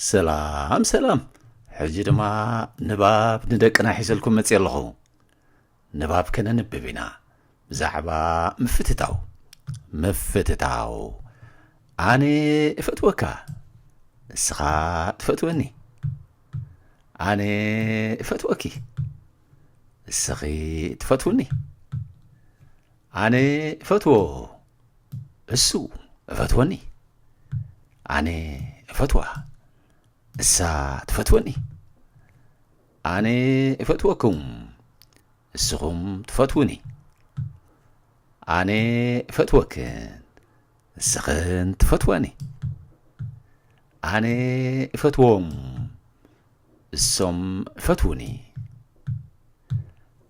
ሰላም ሰላም ሕጂ ድማ ንባብ ንደቅና ሒዘልኩም መጽእ ኣለኹ ንባብ ከነንብብ ኢና ብዛዕባ ምፍትታው ምፍትታው ኣነ እፈትወካ ንስኻ ትፈትወኒ ኣነ እፈትወኪ ንስኺ ትፈትውኒ ኣነ እፈትዎ እሱ እፈትወኒ ኣነ እፈትዋ እሳ ትፈትወኒ ኣነ እፈትወኩም እስኹም ትፈትውኒ ኣነ እፈትወክን እስኽን ትፈትወኒ ኣነ እፈትዎም እሶም እፈትውኒ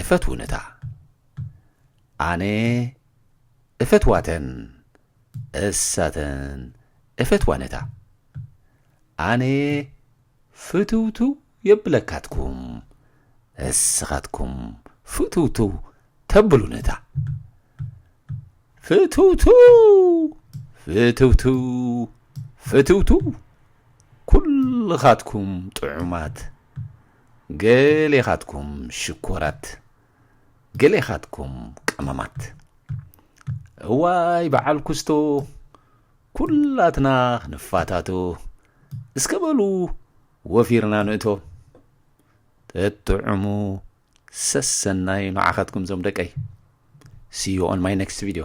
እፈትውንታ ኣነ እፈትዋተን እሳተን እፈትዋነታ ኣነ ፍትውትው የብለካትኩም እስኻትኩም ፍትውትው ተብሉነታ ፍትውትው ፍትውትው ፍትውትው ኩልኻትኩም ጥዑማት ገሌኻትኩም ሽኮራት ገሌኻትኩም ቀመማት እዋይ በዓል ኩስቶ ኩላትና ክንፋታቶ እስከ በሉ ወፊርና ንእቶ ተጥዑሙ ሰሰናይ ንዓኻትኩም ዞም ደቀይ ሲዩ ኦን ማይ ኔክስት ቪድዮ